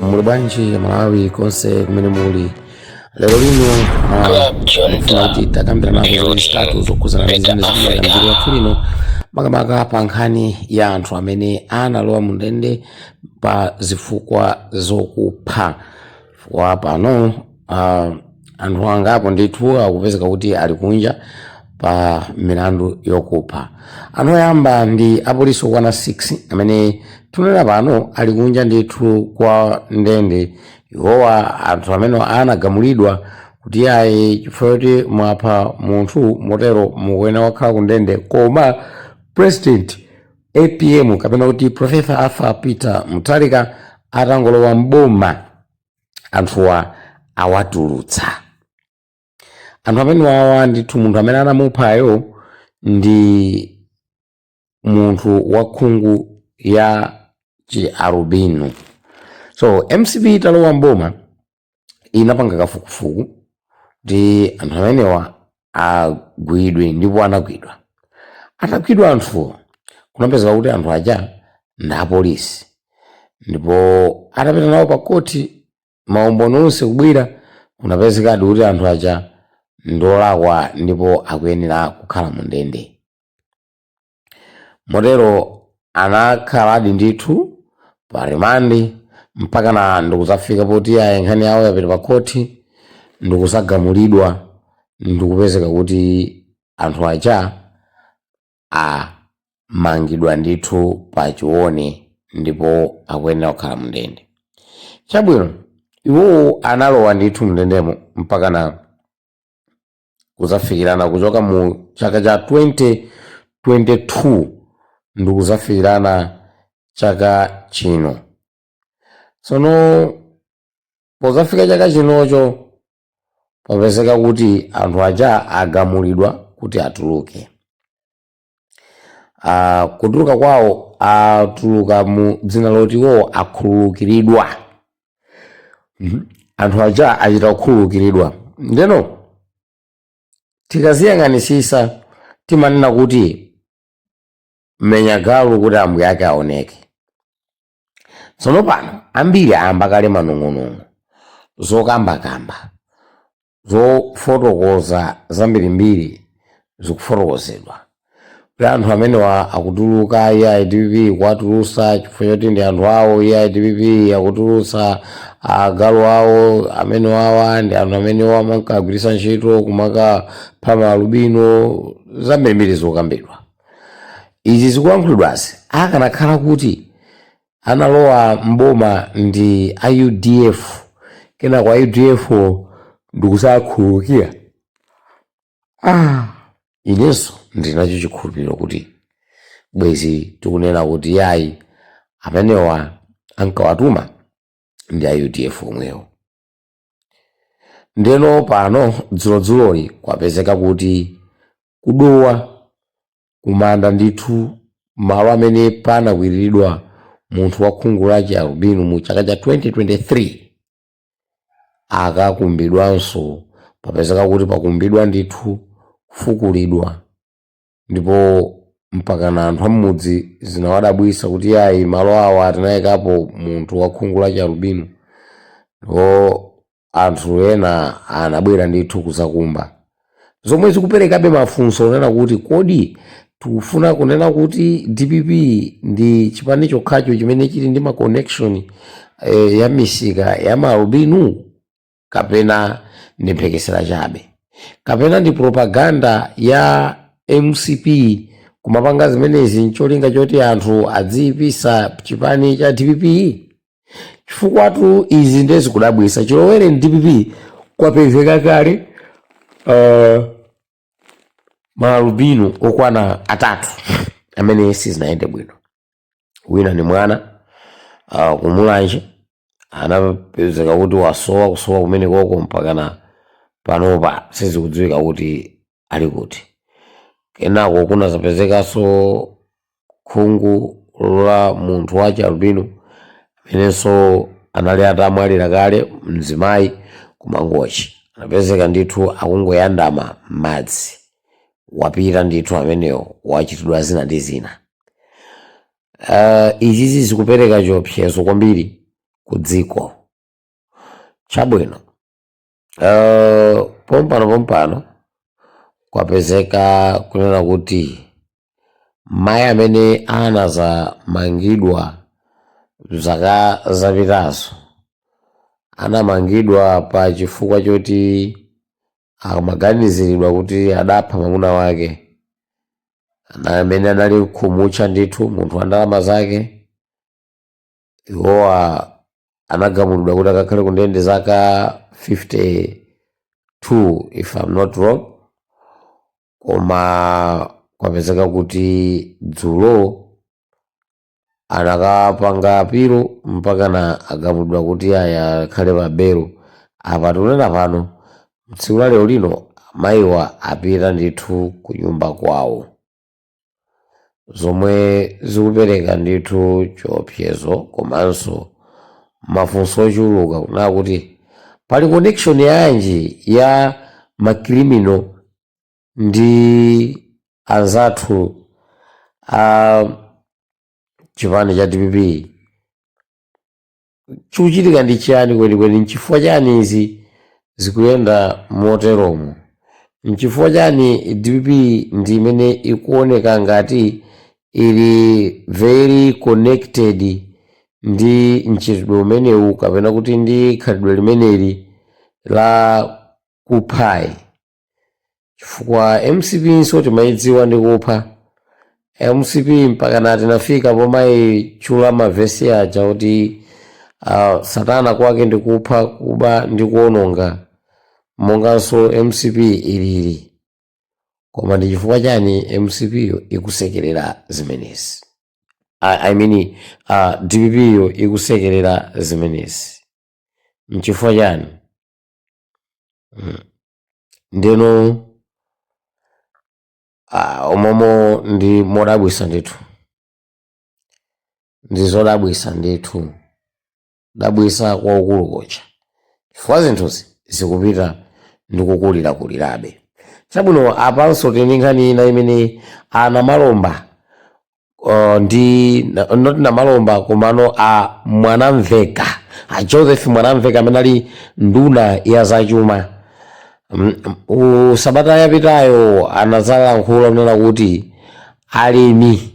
muli bwanji amalawi konse kumene muli lero lino ah, ndikufuna kuti tikambirane nazo zinthu zitatu zokhudzana ndi zimene zikuchitika mdziko lathu lino makamaka pa nkhani ya anthu amene analowa mu ndende pa zifukwa zokupha chifukwa pano uh, anthu angapo ndithu akupezeka kuti ali kunja pa milandu yokupha anthu oyamba ndi apolisi okwana 6 amene tunena pano ali kunja ndithu kwa ndende iwowa ndi anthu amene anagamulidwa kuti ayi chifukwa choti mwapha munthu motero mukuyenera kukhala ku ndende koma president apm kapena kuti profesa arthur peter mutharika atangolowa mboma anthuwa awatulutsa anthu amenewawa ndithu munthu amene anamuphayo ndi munthu wa khungu la chialubino so mcp italowa mboma inapanga kafukufuku kuti anthu amenewa agwidwe ndipo anagwidwa atagwidwa anthuwo kunapezeka kuti anthu aja ndi apolisi ndipo atapita nawo pa khoti maumboni onse kubwera kunapezekadi kuti anthu aja ndolakwa ndipo akuyenera kukhala mu ndende motero anakhaladi ndithu pa rimandi mpakana ndikudzafika poti ayi nkhani yawo yapita pa khoti ndikuzagamulidwa ndikupezeka kuti anthu aja amangidwa ndithu pa chilone ndipo akuyenera kukhala mndende chabwino iwowo analowa ndithu mndendemo mpakana kuzafikirana kuchoka mu chaka cha 2022 ndi kuzafikirana chaka chino tsono pozafika chaka chinocho papezeka kuti anthu aja agamulidwa kuti atuluke uh, kutuluka kwawo atuluka mu dzina loti iwowo akhululukiridwa Mhm. anthu aja achita kukhululukiridwa ndeno tikaziyang'anisisa timanena kuti menya galu kuti ambuye ake aoneke tsono pano ambiri ayamba kale manong'onong'o zokambakamba zofotokoza zambirimbiri zikufotokozedwa kuti anthu amenewa akutuluka ayi DPP kuwatulusa chifukwa choti ndi anthu awo ayi DPP akutulusa agalu awo amenewawa ndi anthu amene amakagwiritsa ntchito kumakapha maalubino zambirimbiri zokambidwa izi zikulankhulidwazi akanakhala kuti analowa m'boma ndi a udf kenako a udf wo ndikuzakhululukira ah. inenso ndili nacho chikhulupiriro kuti bwezi tikunena kuti yayi amenewa ankawatuma ndi a udf omwewo ndeno pano dzulodzuloli kwapezeka kuti kudowa kumanda ndithu malo amene panakwiriridwa munthu wa khungu la chialubino mu chaka cha 2023 akakumbidwanso papezeka kuti pakumbidwa ndithu kufukulidwa ndipo mpakana anthu am'mudzi zinawadabwisa kuti ayi malo awa tinayikapo munthu wa khungu la chialubino ndipo anthu ena anabwera ndithu kuzakumba zomwe zikuperekabe mafunso onena kuti kodi tikufuna kunena kuti dpp ndi chipani chokhacho chimene chili ndi ma connection eh, ya misika ya maalubino kapena ndi mphekesera chabe kapena ndi propaganda ya mcp kumapanga zimenezi ncholinga choti anthu adziyipisa chipani cha dpp chifukwatu izi nde zikudabwisa chilowereni dpp kwapezeka kale uh, maalubino okwana atatu amene sizinayende bwino wina ni mwana uh, kumulanje anapezeka kuti wasowa kusowa kumene koko mpakana panopa sizikudziwika kuti ali kuti kenako kunazapezekanso khungu la munthu wa chialubino amenenso anali atamwalira kale mzimayi ku mangochi anapezeka ndithu akungoyandama m'madzi wapita ndithu ameneyo wachitidwa zina ndi zina uh, izizi zikupereka chiopsezo kwambiri ku dziko chabwino Uh, pompano pompano kwapezeka kunena kuti mayi amene anazamangidwa zaka zapitazo anamangidwa pa chifukwa choti amaganiziridwa kuti adapha mwamuna wake amene anali khumutcha ndithu munthu wa ndalama zake iwowa anagamulidwa kuti akakhale ku ndende zaka 52 if I'm not wrong koma kwapezeka kuti dzulo anakapanga apilo mpakana agamulidwa kuti aya akhale pa belo apa tikunena pano tsiku la lero lino mayiwa apita ndithu ku nyumba kwawo zomwe zikupereka ndithu choopsezo komanso mafunso ochuluka kunena kuti pali connection yanji ya makrimino ndi anzathu a chipani cha dpp chikuchitika ndi chiyani kwenikweni nchifukwa chani izi zikuyenda moteromo nchifukwa chani dpp ndi imene ikuoneka ngati ili very connected ndi mchitidwe umenewu kapena kuti ndi khalidwe limeneli la kuphayi chifukwa mcp nso timayidziwa ndi kupha mcp mpakana tinafika pomayitchula mavesi aja kuti uh, satana kwake ndi kupha kuba ndi kuononga monganso mcp ilili koma ndi chifukwa chani mcp yo ikusekerera zimenezi I, I mean, uh, dpp yo ikusekerera zimenezi nchifukwa chani Mm. ndeno ah, umomo ndi modabwisa ndithu ndi zodabwisa ndithu dabwisa kwakukulu kodza chifukwa zinthuzi zikupita ndi kukulirakulirabe chabwino apanso tili ndi nkhani ina imene a namalomba uh, ndi na- not namalomba komano a mwanamveka a joseph mwanamveka amene ali nduna ya zachuma Mm, u- sabata yapitayo anazalankhula kunena kuti alimi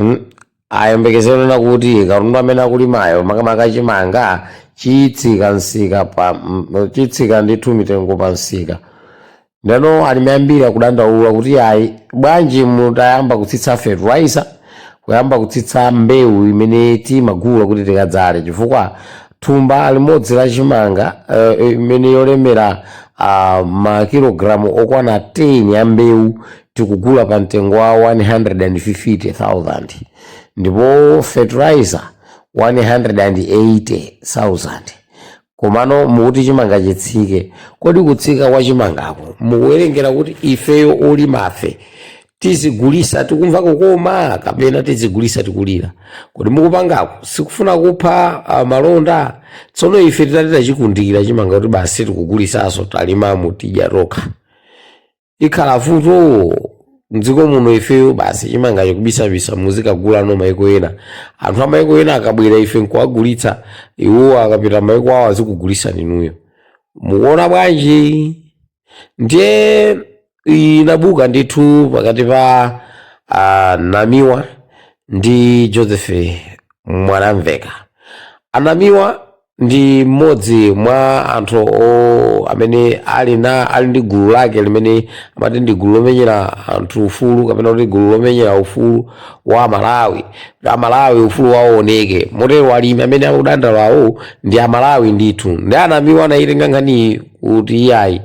mm, ayembekezere kunena kuti katundu amene akulimayo makamaka chimanga chitsika msika pa mm, chitsika ndithu mitengo pa msika ndeno alimi ambiri akudandaula kuti ayi bwanji mutayamba kutsitsa fertilizer kuyamba kutsitsa mbewu imene timagula kuti tikadzale chifukwa thumba limodzi la chimanga eh, imene yolemera ah, makilogalamu okwana 10 ya mbewu tikugula pa mtengo wa 150,000 ndipo fertilizer 180,000 komano mukuti chimanga chitsike kodi kutsika kwa chimangako mukuwerengera kuti ifeyo olimafe tizigulitsa tikumva kukoma kapena tizigulitsa tikulira kodi mukupangako sikufuna kupha ah, malonda tsono ife titati tichikundikira chimanga kuti basi sitikugulitsaso talimamu tidya tokha ikhala vuto mdziko muno ifeyo basi chimanga chikubisabisa muzikagulanso maiko ena anthu amaiko ena akabwera ife nkuwagulitsa iwo akapita maiko awo azikugulitsani inuyo mukuona bwanji ndiye inabuka ndithu pakati pa uh, namiwa ndi joseph mwanamveka anamiwa ndi mmodzi mwa anthu o- amene ali na ali ndi gulu lake limene amati ndi gulu lomenyera anthu ufulu kapena kuti gulu lomenyera ufulu wa malawi kuti amalawi ufulu wawo uoneke motero alimi amene akudandaulawo ndi amalawi ndithu nde anamiwa anayitenga nkhaniyi kuti iyayi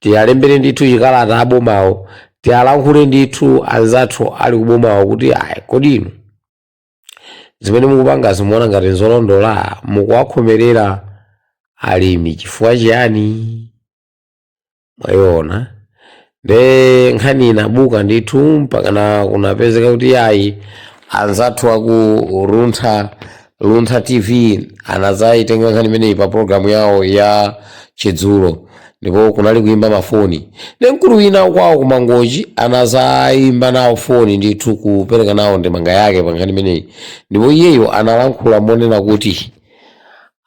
tiwalembere ndithu chikalata abomawo tiwalankhule ndithu anzathu ali kubomawo kuti ayi kodi inu zimene mukupangazi mukuona ngati nzolondola mukuwakhomerera alimi chifukwa chiyani mwayiona nde nkhani inabuka ndithu mpakana kunapezeka kuti ayi anzathu aku luntha luntha tv anazayitenga nkhani imeneyi pa programu yawo ya chidzulo ndipo kunali kuimba mafoni nde mkulu wina kwawo kumangochi anazayimba nawo foni ndithu kupereka nawo ndemanga yake pa nkhani imeneyi ndipo iyeyo analankhula monena kuti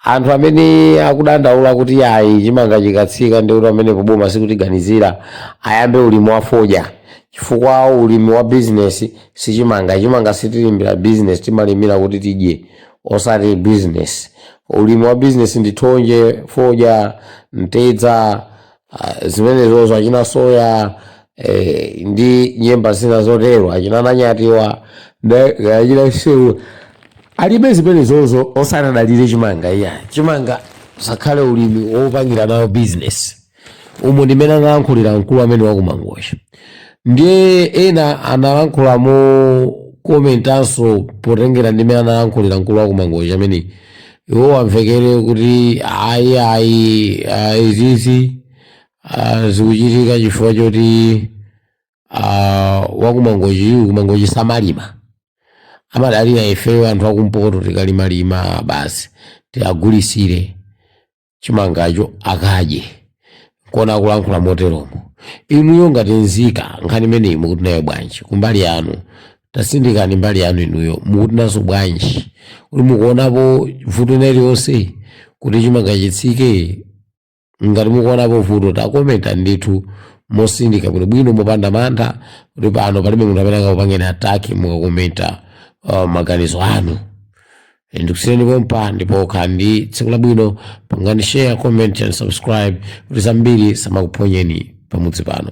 anthu amene akudandaula kuti ayi chimanga chikatsika ndi kuti mwina boma sikutiganizira ayambe ulimi wa fodya chifukwa ulimi wa bizinesi sichimanga chimanga sitilimira bizinesi timalimira kuti tidye osati business ulimi wa business ndi thonje fodya mtedza ah, zimenezozo achina soya eh, ndi nyemba zina zotero achina nanyatiwa ndi- achina nseula zimenezozo osati adalire chimanga iyayi chimanga chisakhale ulimi wopangira nawo business umo ndi mmene analankhulira mkulu amene wakumangochi ndiye ena analankhula mokomentanso potengera ndi mmene analankhulira mkulu wakumangochi amene iwo amvekere kuti ayi ayi ah, izizi ah, zikuchitika chifukwa choti ah, wakumangochi kumangochi samalima amadalira ifeyo anthu akumpoto tikalimalima basi tiwagulitsire chimangacho akadye nkuona akulankhula moteromo inuyo ngati nzika nkhani imeneyi mukuti nayo bwanji kumbali yanu tatsindikani mbali yanu inuyo mukuti nazo bwanji kuti mukuonapo vuto ina iliyonse kuti chimanga chitsike ngati mukuonapo vuto takomentani ndithu motsindika bwinobwino mopanda mantha kuti pano palibe munthu amene akakupangeni ataki mukakomenta uh, maganizo anu ndikusiyeni pompa ndipo khala ndi tsiku labwino pangani share comment and subscribe kuti zambiri zisamakuphonyeni pamudzi pano